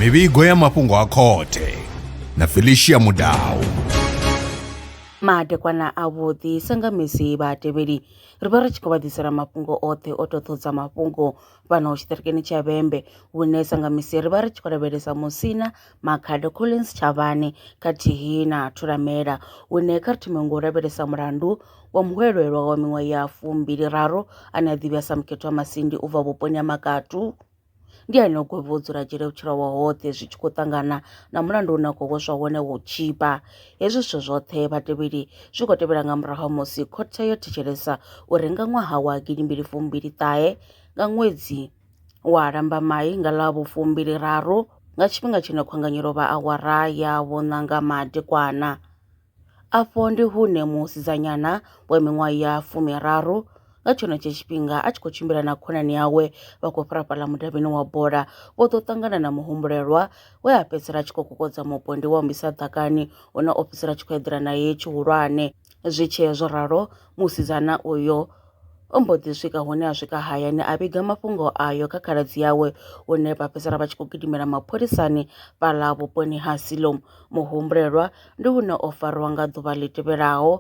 mivhigo ya mafhungo a khothe na felicia mudau madekwana avhuḓi sa nga misi vhatevheli ri vha ri tshi khou vha ḓisela mafhungo oṱhe o toṱhodza mafhungo fhano tshiṱirikini tsha vhembe hune sa nga misi ri vha ri tshi khou lavhelesa musina Makhado Collins Tshavhane khathihi na Thulamela hune kha ri thome ngo lavhelesa mulandu wa muhwelelwa wa miṅwaha ya fumbili raru ane a ḓivhea sa Mukhethwa Masindi u bva vhuponi ha Makatu ndi ane o gwevha u dzula dzhele vhutshilo hawe hoṱhe zwi tshi khou ṱangana na mulandu une a khou hweswa wone wa u tshipa hezwi zwithu zwoṱhe vhatevheli zwi khou tevhela nga murahu ha musi khothe yo thetshelesa uri nga ṅwaha wa gidimbili fumbili ṱahe nga ṅwedzi Wa Lambamai nga ḽa vhu-fumbiliraru nga tshifhinga tshine khwanganyelo vha awara ya vhuṋanga madekwana. Afho ndi hune musidzanyana wa miṅwaha ya fumiraru nga tshenetsho tshifhinga a tshi khou tshimbila na khonani yawe vha khou fhira fhaḽa mudavhini wa bola vho ḓo ṱangana na muhumbulelwa we a fhedzisela a tshi khou kokodza mupondi wa mbisa ḓakani une o fhedzisela a tshi khou eḓela naye tshihulwane. Zwi tshee zwo ralo musidzana uyo O mbo ḓi swika hune a swika hayani a vhiga mafhungo ayo kha khaladzi yawe hune vha fhedzisela vha tshi khou gidimela mapholisani fhaḽa vhuponi ha Siloam. Muhumbulelwa ndi hune o farwa nga ḓuvha ḽi tevhelaho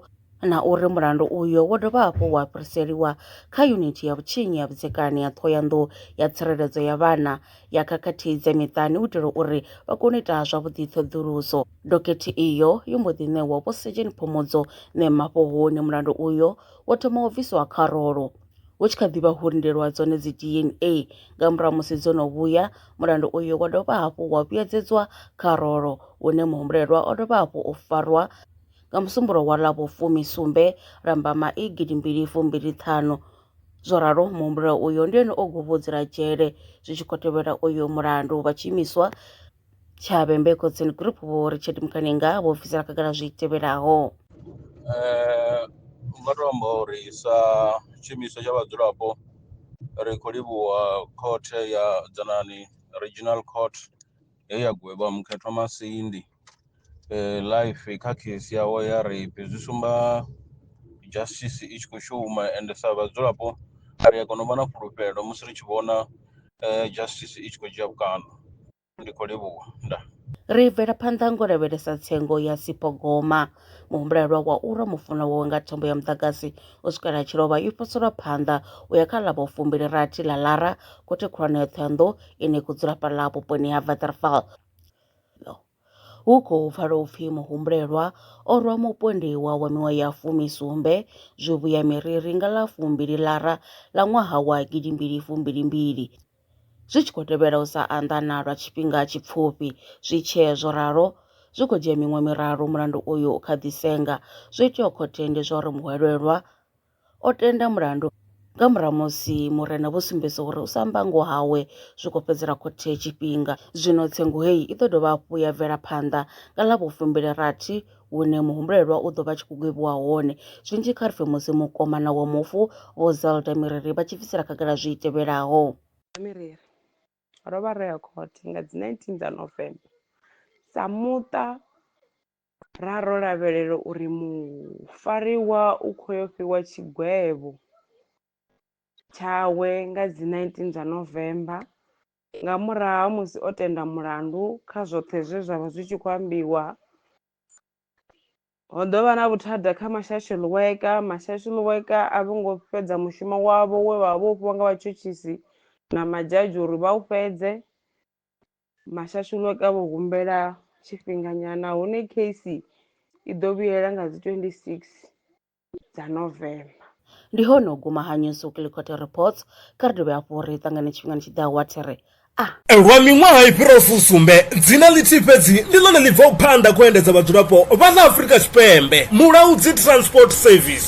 na uri mulandu uyo wo dovha hafhu wa fhiriseliwa kha yunithi ya vhutshinyi ya vhudzekani ya Ṱhohoyanḓou ya Tsireledzo ya Vhana ya Khakhathi dza Miṱani u itela uri vha kone u ita zwavhuḓi ṱhoḓuluso. Dokhethe iyo yo mbo ḓi ṋewa Vho Sejeni Phomodzo Ṋemafhohoni mulandu uyo wo thoma u bviswa kharolo hu tshi kha ḓi vha hulindelwa dzone dzi DNA nga murahu musi dzo no vhuya mulandu uyu wa dovha hafhu wa vhuyedzedzwa kharolo une muhumbulelwa o dovha hafhu u farwa nga musumbulo wa ḽa vhufumi sumbe lambama i gidi mbili fumbili ṱhanu zwo ralo muhumbulelwa uyo ndi ene o guvhudzela dzhele zwi tshi khou tevhela uyo mulandu vha tshi imiswa Tshavhe Mbeko Tsini Group Vho Richard Mukanenga vho bvisela khagala zwi tevhelaho. Eh, nga to amba uri sa tshumiso tsha vhadzulapo ri khou livhuwa khothe ya dzanani regional court he ya gwevha mukhethwa masindi life kha case yawe ya rape zwi sumba justice i tshi khou shuma ende sa vhadzulapo ri a kona u vha na fhulufhelo musi ri tshi vhona justice i tshi khou dzhia vhukando. Ndi khou livhuwa. Ndaa. Ri bvela phanḓa ngo lavhelesa tsengo ya Sipho Goma. Muhumbulelwa wa u rwa mufunwa wawe nga thambo ya muḓagasi u swikela a tshi lovha yo poselwa phanḓa u ya kha ḽa vhufumbili rathi ḽa Lara, khothe khulwane ya Thohoyandou ine ya khou dzula fhaḽa vhuponi ha Waterval. Hu khou pfala u pfi muhumbulelwa o rwa mupondiwa wa miṅwaha ya fumisumbe zwivhuya miriri nga ḽa fumbili lara ḽa ṅwaha wa gidimbili fumbilimbili zwi tshi khou tevhela u sa anḓana lwa tshifhinga tshipfufhi. Zwi tshee zwo ralo, zwi khou dzhia miṅwe miraru mulandu uyu u kha ḓi senga. Zwo itiwa khotheni ndi zwa uri muhwelelwa O tenda mulandu nga murahu musi murena vho sumbedza uri u sa amba ngoho hawe zwi khou fhedzela khothe tshifhinga. Zwino tsengo heyi i ḓo dovha hafhu ya bvela phanḓa nga ḽa vhufumbili-rathi hune muhumbulelwa u ḓo vha a tshi khou gwevhiwa hone. Zwinzhi kha ri pfe musi mukomana wa mufu Vho Zelda Miriri vha tshi bvisela khagala zwi tevhelaho. Vho Miriri, Ro vha ro ya khothe nga dzi 19 dza November sa muṱa Ra ro lavhelela uri mufariwa u khou yo fhiwa tshigwevho tshawe nga dzi 19 dza November nga murahu ha musi o tenda mulandu kha zwoṱhe zwe zwa vha zwi tshi khou ambiwa. Ho ḓo vha na vhuthada kha mashashu ḽiweka, mashashu ḽiweka a vho ngo fhedza mushumo wavho we vha vha vho fhiwa nga vhatshutshisi na madzhadzhi uri vha u fhedze. Mashasholoke a vho humbela tshifhinganyana hune kheisi i ḓo vhuyela nga dzi 26 dza November. Ndi hone u guma ha News Weekly Court Reports. Kha ri dovhe hafhu ri ṱangane tshifhingani tshi ḓaho wa thiri. A. Lwa miṅwaha i fhiraho fusumbe, dzina ḽithihi fhedzi ndi ḽone ḽi bvaho phanḓa kha u endedza vhadzulapo vha ḽa Afrika Tshipembe, Mulaudzi Transport Service.